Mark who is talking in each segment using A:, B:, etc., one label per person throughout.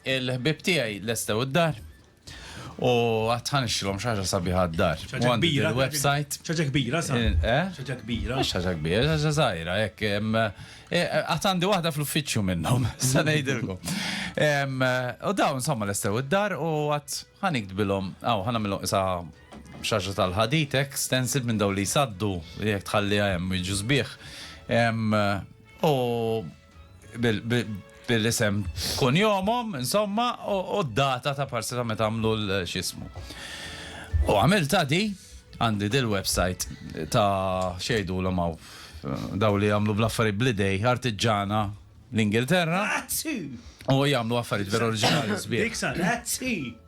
A: Il-ħbieb tiegħi lestew id-dar u għad ħanixxilhom xi ħaġa sabiħa d-dar. U għandi il-website. Xaġa kbira, sa? Eh? Xaġa kbira. Xaġa kbira, xaġa żgħira, hekk. Eh, għad għandi waħda fl-uffiċċju minnhom, sa ngħidilkom. U dawn insomma lestew id-dar u għad ħanikdbilhom, aw ħanamilhom isa xaġa tal-ħadit hekk stencil minn daw li jsaddu jekk tħalliha hemm jiġu sbieħ. U bil-isem kunjomom, insomma, u d-data ta' parsi ta' meta għamlu l-xismu. U għamilta di, għandi dil-websajt ta' xejdu l għaw daw li għamlu bl-affari blidej, artiġana l-Ingilterra. U għamlu affarijiet vera oriġinali sbieħ.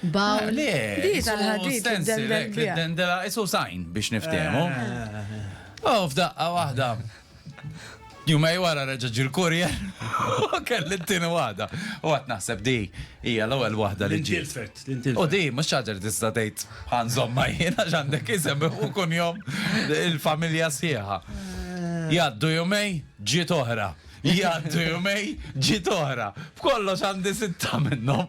A: Bawl. Le, Di isu tal-ħadid stencil, tiddendel hekk, li biha. ddendela, isu sajn biex niftehmu. U f'daqqa waħda, jumej wara reġa' ġie l-courier u kelli t-tieni waħda. U qatt naħseb di hija l-ewwel waħda li ġiet. L-intilfet, l-intilfet. U di mhux xi ħaġa li tista' tgħid ħa nżommha jien għax għandek isem u kunjom il-familja sħiħa. Jgħaddu jumej, ġiet oħra. Jgħaddu jumej, ġiet oħra. F'kollox għandi sitta minnhom.